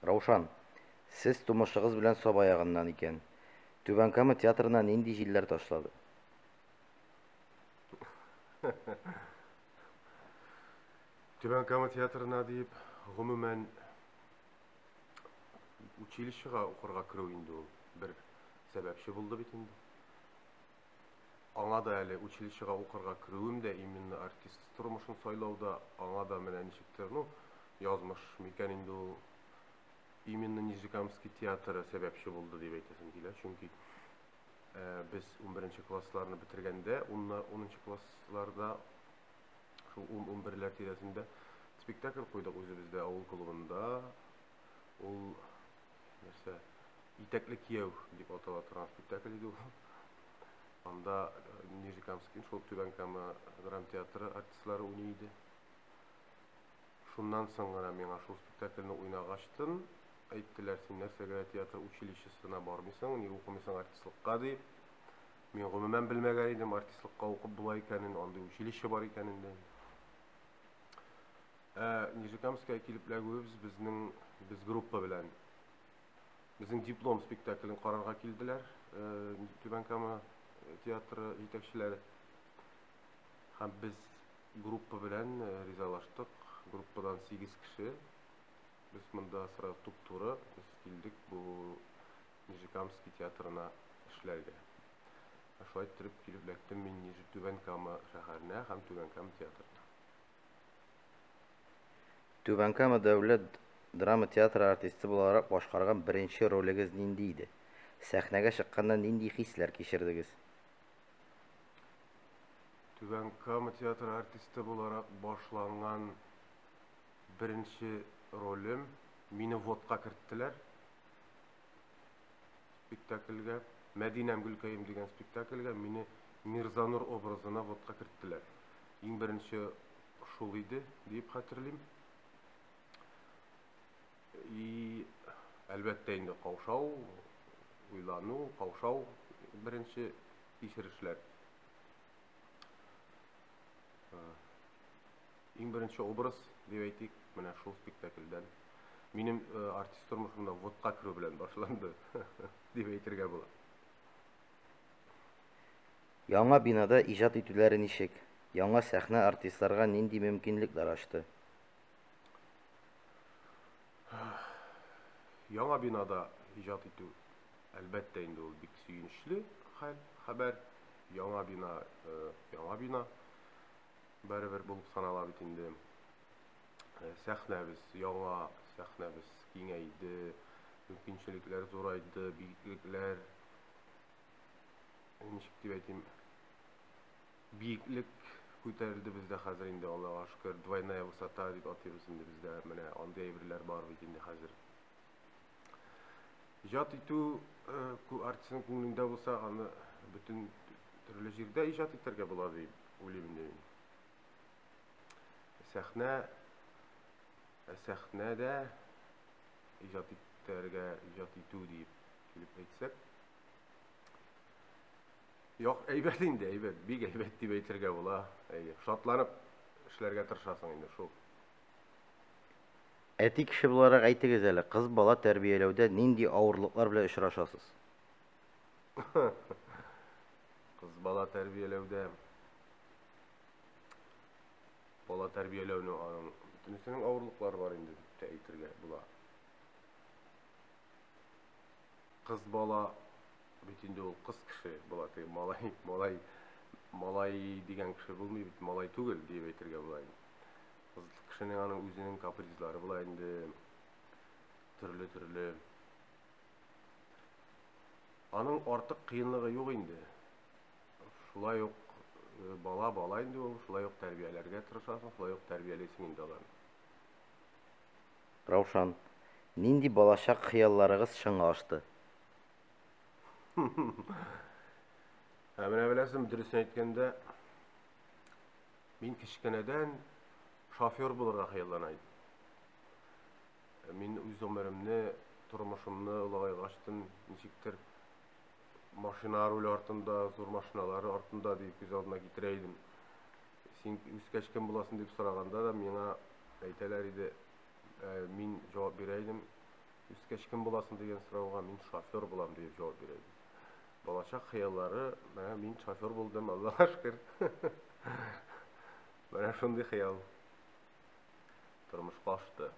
Раушан, сез тумышыгыз белән Саба ягыннан икән. Түбән Кама театрына нинди җилләр ташлады? Түбән Кама театрына диеп, гомумән, училищега укырга керү инде ул бер сәбәпче булды бит инде. Аңа да әле училищега укырга керүем дә именно артист тормышын сайлау да аңа да менә ничектер, ну, язмыш микән инде ул, именно Нижнекамский театры сәбәпче булды дип әйтәсем килә, чөнки без унберенче классларны бетергәндә, уннар, унынчы классларда, шул ун-унберләр тирәсендә спектакль куйдык үзебездә авыл клубында, ул нәрсә, итәкле кияү дип атала торган спектакль иде ул. Анда э, Нижнекамский, шул Түбән Кама драмтеатры артистлары уйный иде. Шуннан соң гына миңа шул спектакльне уйнагачтын әйттеләр, син нәрсәгә театр училищесына бармыйсың, ни укымыйсың артистлыкка дип. Мин гомумән белмәгән идем артистлыкка укып була икәнен, андый училище бар икәнен дә. Ә Нижекамская килеп эләгүебез безнең без группа белән безнең диплом спектаклен карарга килделәр. Э, Түбән Кама э, театры җитәкчеләре. Һәм без группа белән э, ризалаштык. Группадан 8 кеше. Без монда сразу туп-туры без килдек бу Нижекамский театрына эшләргә. Шулай итеп килеп эләктем мин Түбән Кама шәһәренә һәм Түбән Кама театрына. Түбән Кама дәүләт драма театры артисты буларак башкарган беренче ролегез нинди иде? Сәхнәгә чыкканда нинди хисләр кичердегез? Түбән Кама театры артисты буларак башланган беренче ролем, мине взводка керттеләр. спектакльгә, Мәдинәм Гөлкәем дигән спектакльгә мине Мирзанур образына вотка керттеләр. Иң беренче шул иде, диеп хәтерлим. И, әлбәттә инде каушау, уйлану, каушау беренче кичерешләр. Иң беренче образ, дип әйтик, менә шул спектакльдән минем э, артист тормышымда вотка керү белән башланды, дип әйтергә була. Яңа бинада иҗат итүләре ничек? Яңа сәхнә артистларга нинди мөмкинлекләр ачты? Яңа бинада иҗат итү, әлбәттә инде ул бик сөенечле хәл, хәбәр. Яңа бина, э, яңа бина. Барыбер булып санала бит инде. Э, сәхнәбез яңа, сәхнәбез киңәйде, мөмкинчелекләр зурайды, биеклекләр ничек дип әйтим, биеклек күтәрелде бездә хәзер инде Аллага шөкер, двойная высота дип атыйбыз инде бездә. Менә андый әйберләр бар бит инде хәзер. Иҗат итү э, артистның күңелендә булса, аны бөтен төрле җирдә иҗат итәргә була дип уйлыйм инде мин. Сәхнә ә сәхнәдә иҗат итәргә, иҗат итү дип килеп әйтсәк, Як, әйбәт инде, әйбәт, бик әйбәт дип әйтергә була. Әйе, шатланып эшләргә тырышасың инде шул. Әти кеше буларак әйтегез әле, кыз бала тәрбияләүдә нинди авырлыклар белән очрашасыз? Кыз бала тәрбияләүдә бала тәрбияләүнең аның бөтенесенең авырлыклары бар инде дип тә әйтергә була. Кыз бала бит инде ул кыз кеше була, малай, малай, малай дигән кеше булмый бит, малай түгел дип әйтергә була инде. Кешенең аның үзенең капризлары була инде. Төрле-төрле. Аның артык кыенлыгы юк инде. Шулай ук э, бала бала инде ул, шулай ук тәрбияләргә тырышасың, шулай ук тәрбиялисең инде аларны. Раушан, нинди балачак хыялларыгыз чынга ашты? Ә менә беләсең, дөресен әйткәндә, Мин кечкенәдән шофер булырга хыяллана идем. Мин үз гомеремне, тормышымны олыгай ачтым, ничектер машина руль артында, зур машиналар артында дип күз алдына китерә идем. Син үскәч кем буласың дип сораганда да миңа әйтәләр иде, ә, мин җавап бирә идем. Үскәч кем буласың дигән сорауга мин шофер булам дип җавап бирә идем. Балачак хыяллары, менә мин шофер булдым, Аллаһка шөкер. Менә шундый хыял тормышка ашты.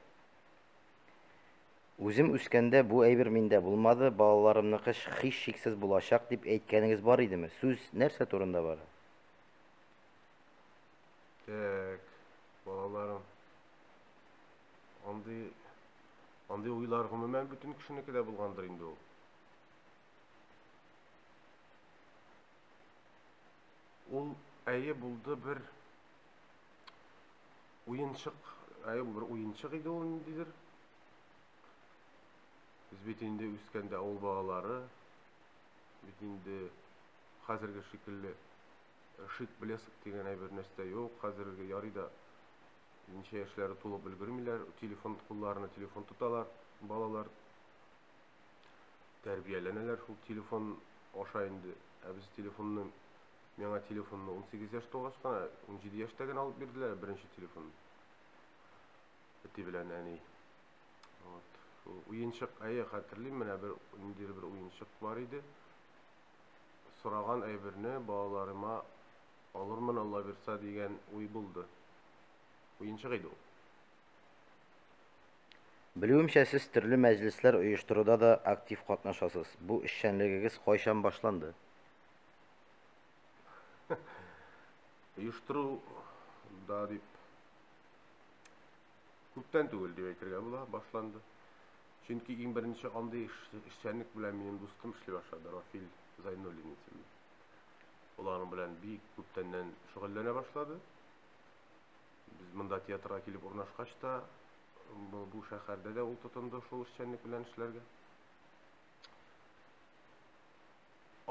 Үзем үскәндә бу әйбер миндә булмады, балаларымныкы хиш шиксез булачак дип әйткәнегез бар идеме? Сүз нәрсә турында бара? Так, балаларым. Андый андый уйлар гомумән бөтен кешенеке дә булгандыр инде ул. Ул әйе булды бер уенчык, әйе бер уенчык иде ул ниндидер. Без бит инде үскәндә авыл балалары, бит инде хәзерге шикелле э, шик блеск дигән әйбер нәрсә юк. Хәзерге ярый да ничә яшьләре тулып өлгермиләр, телефон кулларына телефон тоталар балалар. тәрбияләнәләр шул телефон аша инде. Ә без телефонны, миңа телефонны 18 яшь тулгач кына, 17 яшьтә генә алып бирделәр беренче телефон. Әти белән әни. Вот. Уенчык, әйе, хәтерлим, менә бер ниндидер бер уенчык бар иде. Сораган әйберне балаларыма алырмын, Алла бирса дигән уй булды. Уенчык иде ул. Белүемчә, сез төрле мәҗлесләр оештыруда да актив катнашасыз. Бу эшчәнлегегез кайчан башланды? Оештыру да дип күптән түгел дип әйтергә була, башланды. Чөнки иң беренче андый эшчәнлек белән минем дустым эшли башлады, Рафил Зайнуллин исемле. Ул аның белән бик күптәннән шөгыльләнә башлады. Без монда театрга килеп урнашкач та, бу шәһәрдә дә ул тотынды шул эшчәнлек белән эшләргә.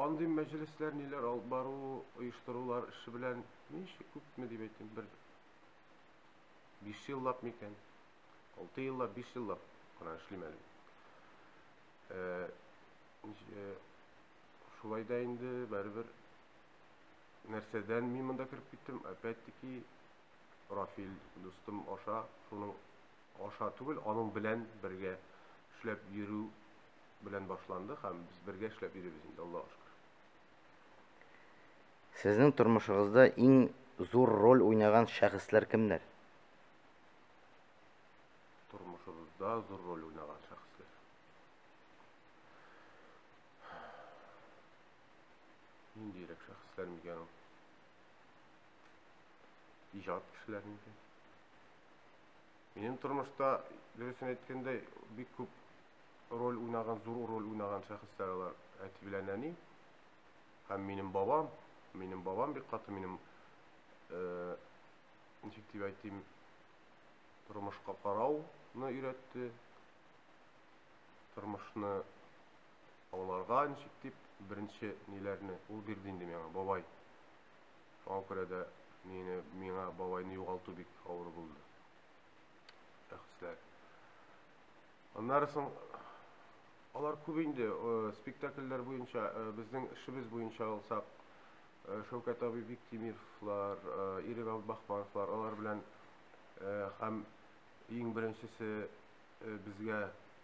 Андый мәҗлесләр, ниләр алып бару, оештырулар эше белән ничек күпме дип әйтим, бер 5 еллап микән? 6 еллап, 5 еллап кына эшлим әле. Э, э, шулай да инде бәрбер нәрсәдән мин монда кереп киттем? Опять-таки Рафил дустым аша, шуның аша түгел, аның белән бергә эшләп йөрү белән башланды һәм без бергә эшләп йөрибез инде, Аллаһ шөкер. Сезнең тормышыгызда иң зур роль уйнаган шәхесләр кемнәр? Тормышыгызда зур роль уйнаган шәхесләр. Ниндирәк шәхесләр микән ул? Иҗат кешеләр микән? Минем тормышта, дөресен әйткәндә, бик күп роль уйнаган, зур роль уйнаган шәхесләр алар. Әти белән әни һәм минем бабам. Минем бабам бик каты минем э, ничек дип әйтим, тормышка карауны өйрәтте. Тормышны Аңларга ничек дип, беренче ниләрне ул бирде инде миңа, бабай. Шуңа күрә дә мине, миңа бабайны югалту бик авыр булды. Әхисләр. Аннары соң алар күп инде э, спектакльләр буенча, э, безнең эшебез буенча алсак, э, Шәүкәт абый Биктимировлар, Ирек Бахмановлар, алар белән һәм иң беренчесе Безгә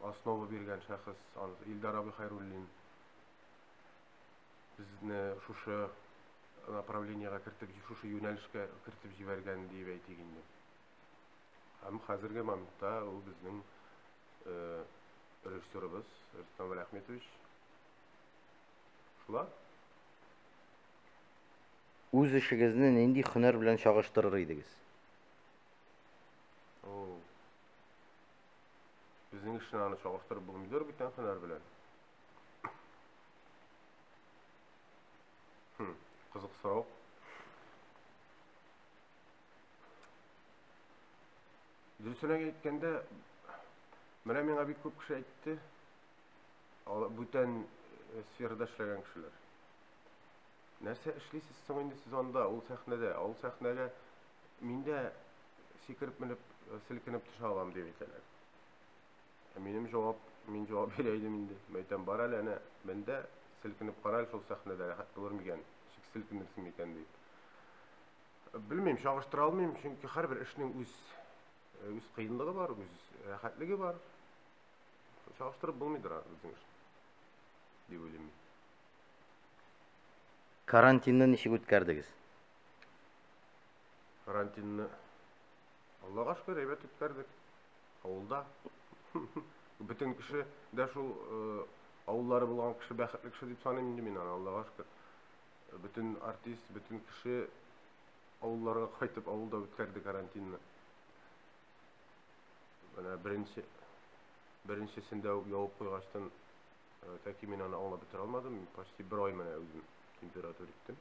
основа биргән шәхес Илдар абый Хайруллин безне шушы направлениега кертеп, шушы юнәлешкә кертеп җибәргән диеп әйтик инде. Һәм хәзерге моментта ул безнең э, режиссерыбыз Рустам Рәхметович. Шулар. Үз эшегезне нинди хөнәр белән чагыштырыр идегез? О, Безнең эшне аны чагыштырып булмыйдыр бит тәңкәләр белән. Хм, кызык сорау. Дөресен әйткәндә, менә миңа бик күп кеше әйтте, бүтән э, сферада эшләгән кешеләр. Нәрсә эшлисез соң инде сез анда, ул сәхнәдә? Ул сәхнәгә Мин дә сикереп менеп, селкенеп төшә алам, дип әйтәләр. Ә минем җавап, мин җавап бирә идем инде. Мәйтәм, бар әле, әнә, мен дә, селкенеп кара әле шул сәхнәдә, рәхәт булыр микән, чик селкенерсең микән, дип. Белмим, чагыштыра алмыйм, чөнки һәрбер эшнең үз үз кыенлыгы бар, үз рәхәтлеге бар. Чагыштырып булмыйдыр безнең эшне, дип уйлыйм мин. Карантинны ничек үткәрдегез? Карантинны Аллага шөкер, әйбәт үткәрдек. Авылда. Бөтен кеше дә шул э, авыллары булган кеше бәхетле кеше дип саныйм инде мин аны, Аллага шөкер. Бөтен артист, бөтен кеше авылларга кайтып, авылда үткәрде карантинны. Менә беренче беренчесендә үк явып куйгачтан э, тәки мин аны аңлап бетерә алмадым. Почти бер ай менә үзем температура иттем.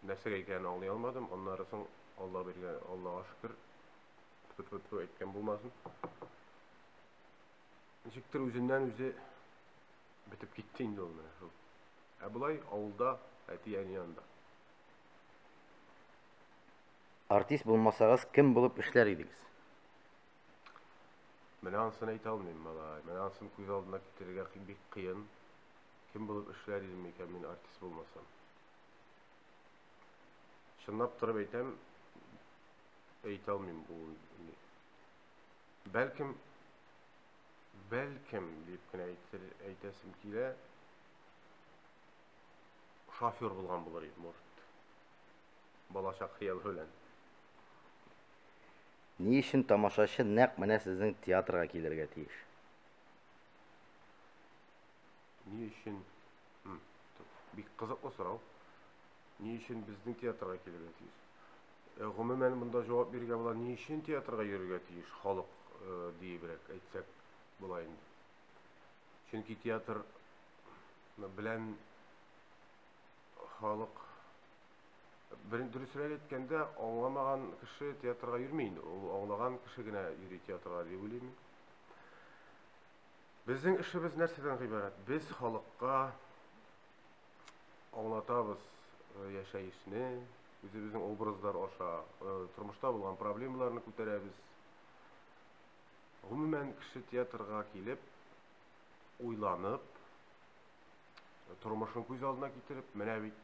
нәрсәгә икәнен аңлый алмадым. Аннары соң Алла биргән, Аллага шөкер, тфу-тфу-тфу әйткән булмасын. Ничектер үзеннән үзе бетеп китте инде ул менә шул. Ә болай авылда, әти-әни янында. Артист булмасагыз, кем булып эшләр идегез? Менә ансын әйтә алмыйм, малай. Менә ансын күз алдына китерергә бик кыен. Кем булып эшләр идем микән мин артист булмасам? Чынлап торып әйтәм, әйтә алмыйм бу ни. Бәлкем бәлкем дип кенә әйтер, әйтәсем килә. Шофер булган булыр идем, может. Балачак хыялы белән. Ни өчен тамашачы нәкъ менә сезнең театрга килергә тиеш? Ни өчен? Бик кызыклы сорау. Ни өчен безнең театрга килергә тиеш? Э, гомумән монда җавап бирергә була ни өчен театрга йөрергә тиеш халык э, диебрәк әйтсәк була инде чөнки театр белән халык берен дөресрәк әйткәндә аңламаган кеше театрга йөрми инде ул аңлаган кеше генә йөри театрга дип уйлыйм Безнең эшебез нәрсәдән гыйбарәт? Без халыкка аңлатабыз э, яшәешне, үзебезнең образлар аша э, тормышта булган проблемаларны күтәрәбез. Гомумән, кеше театрга килеп, уйланып, тормышын күз алдына китереп, менә бит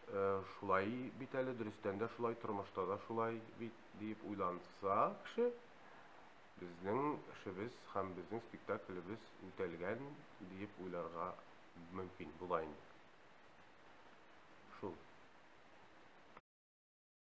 э, шулай бит әле, дөрестән дә шулай, тормышта да шулай бит, диеп уйланса кеше, Безнең эшебез һәм безнең спектаклебез үтәлгән диеп уйларга мөмкин була инде. Шул.